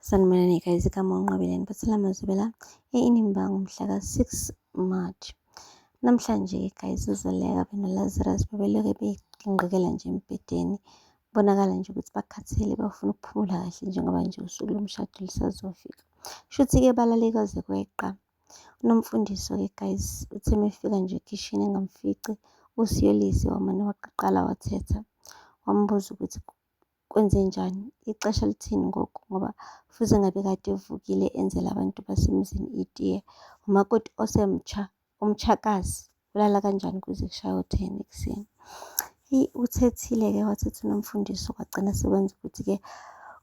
Sanibonani guys, igama uNqabeleni Bathela Mazibela eNimbango mhla ka-6 March. Namhlanje guys uZoleka benoLazarus bebelokhu beyingqikela nje embhedeni. Kubonakala nje ukuthi bakhathele bafuna ukuphumula kahle njengoba nje usuku lomshado lisazofika. Shuthi-ke balale kwaze kweqa. Unomfundiso-ke guys uthe mefika nje ekhishini engamfici uSiyolise wamane waqaqala wathetha. Wambuza ukuthi kwenzenjani, ixesha lithini ngoku ngoba fuze ngabe kade evukile enzela abantu basemzini itiye. Umakoti osemtsha, umtshakazi ulala kanjani kuze kushaye u-ten ekuseni. Eyi uthethile-ke wathetha uNomfundisi kwagcina sekwenza ukuthi-ke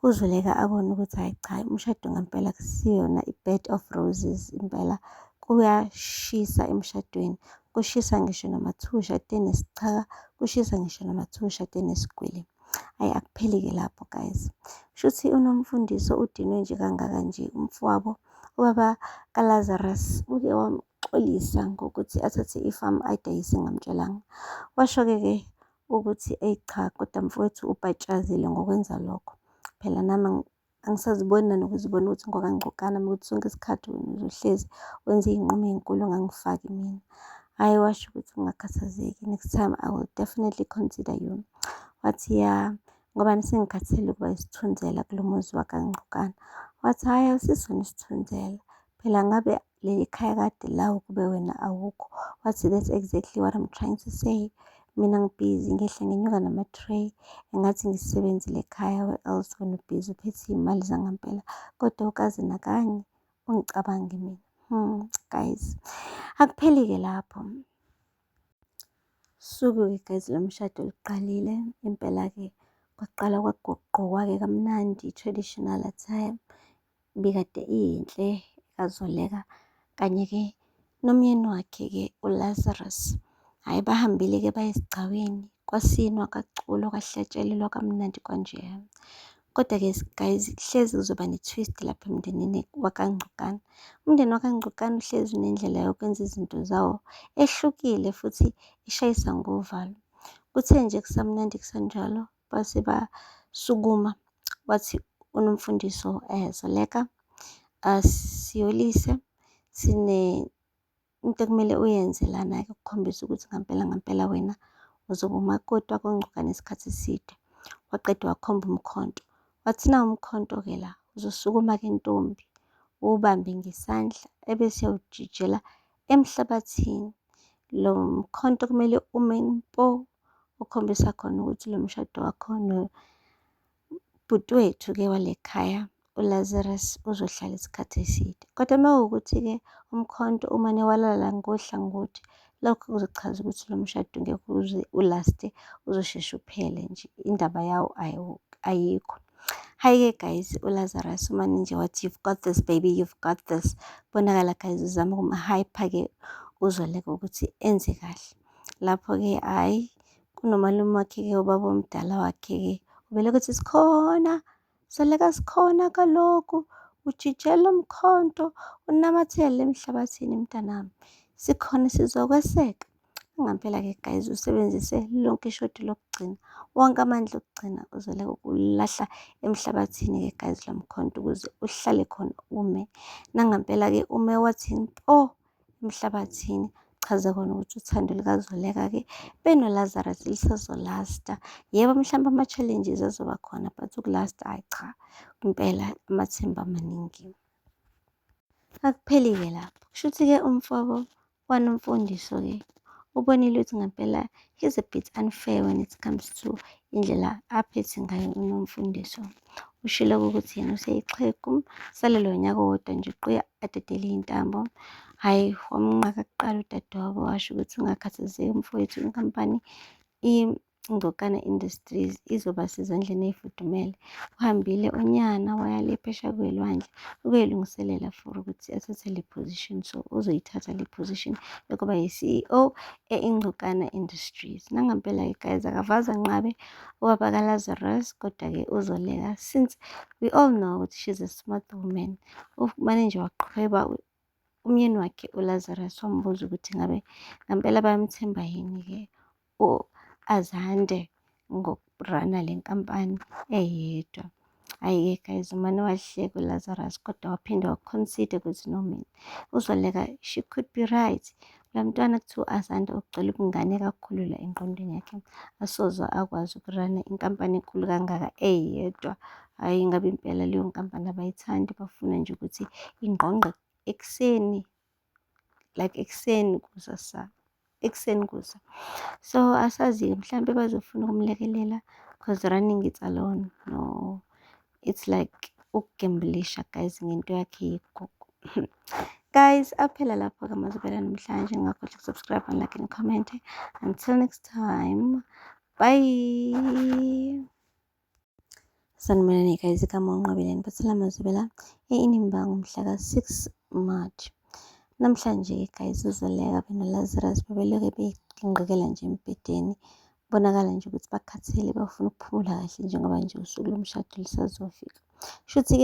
uZoleka abone ukuthi hhayi cha umshado ngempela kusiyona i-bed of roses impela kuyashisa emshadweni. Kushisa ngisho namathusha atene sichaka, kushisa ngisho namathusha atene sigwili. Ayi akupheli-ke lapho guys. Shuthi uNomfundiso udinwe nje kangaka nje umfowabo ubaba kaLazarus uke wamxolisa ngokuthi athathe ifamu ayidayise ngamtshelanga. Washo-ke ke ukuthi eyi cha kodwa mfowethu ubhatshazile ngokwenza lokho. Phela nami Angisaziboni nanokuzibona ukuthi ngoba ngigcokani nami ukuthi sonke isikhathi wena uzohlezi wenza iy'nqumo ey'nkulu ungangifaki mina. Hhayi washo ukuthi ungakhathazeki next time I will definitely consider you. Wathi, ya ngoba sengikhathele ukuba isithunzela kulo muzi wakangqokana. Wathi, hhayi awusisona isithunzela phela ngabe leli khaya kade lawo kube wena awukho wathi that's exactly what I'm trying to say mina ngibhizi ngehla ngenyuka nama-tray engathi ngisebenzile ekhaya where else when ubhizi uphethe iy'mali zangempela kodwa ukaze nakanye ungicabange mina hmm, guys akupheli-ke lapho suku-ke guys lo mshado luqalile impela-ke kwaqala kwagqokwake kamnandi i-traditional attire ibikade iyinhle kaZoleka kanye-ke nomyeni wakhe-ke uLazarus. Hhayi bahambile-ke baye esigcawini kwasinwa kaculo kwahlatshelelwa kamnandi kwanjeya. Kodwa-ke guys hlezi kuzoba ne-twist lapha emndenini wakangcokana. Umndeni wakangcokana uhlezi unendlela yokwenza izinto zawo ehlukile futhi ishayisa ngovalo. Kuthe nje kusamnandi kusanjalo base basukuma wathi unomfundiso eh Zoleka asiyolise sine into ekumele uyenze lana-ke ukukhombisa ukuthi ngampela ngampela wena uzoba umakoti wakongcuka nesikhathi eside. Waqeda wakhomba umkhonto, wathi nawu umkhonto-ke la uzosukuma-ke ntombi uwubambe ngesandla ebese uyawujijela emhlabathini. Lo mkhonto kumele ume mpo ukhombisa khona ukuthi lo mshado wakho nobhuti wethu-ke wale khaya uLazarus uzohlala isikhathi eside. Kodwa uma kuwukuthi-ke umkhonto umane walala ngohlangothi, lokho kuzochaza ukuthi lo mshado ngeke uze ulaste, uzosheshe uphele nje, indaba yawo ayikho. Hayi-ke guys, uLazarus umane nje wathi you've got this baby, you've got this. Bonakala guys uzama ukumhyper-ke uzoleka ukuthi enze kahle. Lapho-ke hhayi kunomalume wakhe-ke ubaba omdala wakhe-ke ubele ukuthi sikhona soleka sikhona kaloku ujijela umkhonto unamathele emhlabathini mntanami sikhona sizokweseka. Ngampela-ke guys usebenzise lonke ishodi lokugcina, wonke amandla okugcina uzele ukulahla emhlabathini-ke guys lo mkhonto ukuze uhlale khona ume. Nangampela-ke ume wathini po emhlabathini chaza kona ukuthi uthando likazoleka-ke benolazarus lisazolasta yebo mhlawumbe ama-challenges azoba khona but ukulasta hhayi cha impela amathemba amaningi akupheli-ke lapho kusho ukuthi-ke umfobo One umfundisi ke ubonile ukuthi ngempela he's a bit unfair when it comes to indlela aphethe ngayo unomfundiso ushilo ukuthi yena useyixhegu salelo nyaka wodwa nje uqoya adedele intambo hhayi wamnqaka kuqala udadewabo washo ukuthi ungakhathazeki mfowethu inkampani Ingcokana Industries izoba sezandleni ey'fudumele. Uhambile unyana waya le phesha kwelwandle ukuyolungiselela for ukuthi athathe le position. So uzoyithatha le position yokuba yi-CEO e-Ingcokana Industries. Nangampela-ke guys akavaza nqabe ubaba kaLazarus kodwa-ke uzoleka since we all know ukuthi she's a smart woman. Umane nje waqhweba umyeni wakhe uLazarus wambuza ukuthi ngabe ngampela bayamthemba yini-ke u-Azande ngokurana le nkampani eyedwa. Hhayi-ke guys, umane wahleka uLazarus kodwa waphinde waconsider ukuthi no mina uzoleka she could be right. La mntwana kuthiwa asanda ukugcwele ubungane kakhulu la engqondweni yakhe, asoze akwazi ukurana inkampani enkulu kangaka eyedwa. Hhayi, ngabe impela leyo nkampani abayithandi, bafuna nje ukuthi ingqongqe ekuseni, like ekuseni kusasa, ekuseni kusa. So asazi-ke mhlampe bazofuna ukumlekelela because running it's alone, no. it's like ukugembulisha guys ngento yakhe yegogo guys aphela lapho ke mazibela namhlanje ngakho subscribe and like and comment until next time bye sanibonani guys igama unqabeleni bathela mazibela einimbango mhla ka-6 march namhlanje guys uzoleka beno lazarus bebelokhe beyingqikela nje embhedeni Kubonakala nje ukuthi bakhathele bafuna ukuphumula kahle njengoba nje usuku lomshado lusazofika. Shuthi-ke